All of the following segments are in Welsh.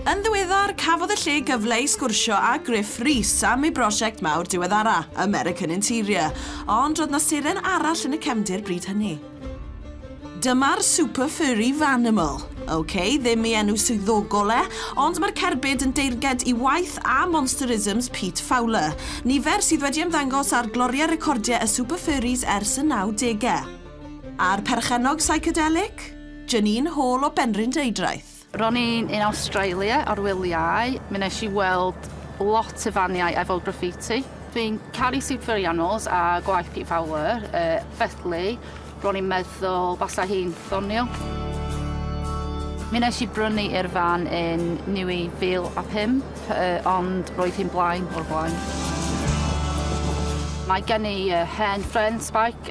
Yn ddiweddar, cafodd y lle gyfle i sgwrsio â Griff Rhys am ei brosiect mawr diweddara, American Interior, ond roedd 'na seren arall yn y cefndir bryd hynny. Dyma'r Super Furry Vanimal. Ok, ddim ei enw swyddogol e, ond mae'r cerbyd yn deyrnged i waith a monsterisms Pete Fowler, nifer sydd wedi ymddangos ar gloriau recordiau y Super Furries ers y 90au. A'r perchennog psychedelic? Janine Hall o Benrhyn Deudraeth. Ro'n i'n yn Awstralia ar wyliau, mi wnes i weld lot o faniau efo graffiti. Dwi'n caru Super Animals a gwaith Pete Fowler, felly ro'n i'n meddwl basa hi'n ddoniol. Mi wnes i brynu i'r fan yn 2005, ond roedd hi'n blaen o'r blaen. Mae gen i hen frên sbaic,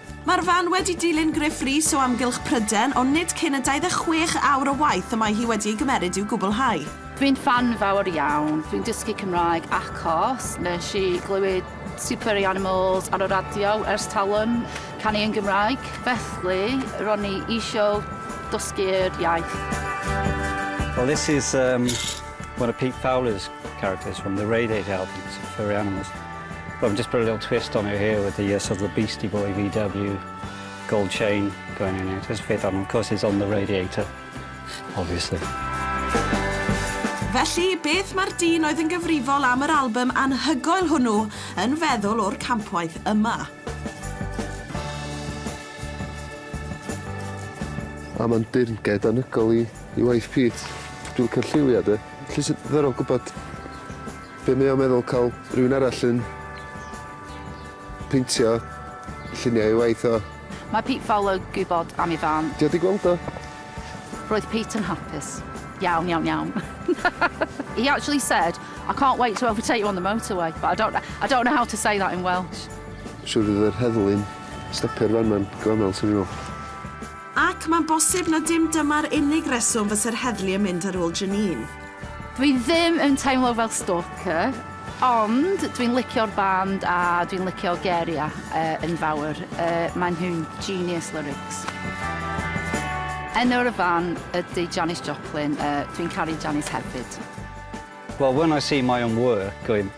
Mae'r fan wedi dilyn Gruff Rhys o amgylch Pryden, ond nid cyn y 26 awr o waith y mae hi wedi ei gymeryd i'w gwblhau. Dwi'n ffan fawr iawn, dwi'n dysgu Cymraeg achos nes i glywed Supery Animals ar y radio ers talwm, canu yn Gymraeg, felly ro'n i isio dysgu'r iaith. Well this is one of Pete Fowler's characters from the Radiator album, Supery Animals. Wel just put a little twist on it here with the yy sort of the beastie boy VW gold chain going in it. Jyst peth arno of course it's on the radiator obviously. Felly, beth mae'r dyn oedd yn gyfrifol am yr albym anhygoel hwnnw yn feddwl o'r campwaith yma? A mae'n dirnged anhygoel i i waith Pete. Dwi'n licio lliwia de. Lle sydd ddiddorol gwbod Be mae o'n meddwl cael rhywun arall yn peintio lluniau ei waith o? Mae Pete Fowler gwybod am ei fân. Ti wedi gweld o? Roedd Pete yn hapus. Iawn, iawn, iawn. He actually said, I can't wait to overtake you on the motorway, but I don't, I don't know how to say that in Welsh. Siwr fydd yr heddlu'n stopio'r fan ma'n gyfaml, swn i'n meddwl. Ac mae'n bosib na dim dyma'r unig reswm fyse'r heddlu yn mynd ar ôl Janine. Dwi ddim yn teimlo fel stalker, ond dwi'n licio'r band a dwi'n licio Geria yn fawr, maen nhw'n genius lyrics. Enw'r y fan ydy Janis Joplin, dwi'n caru Janis hefyd. Well when I see my own work,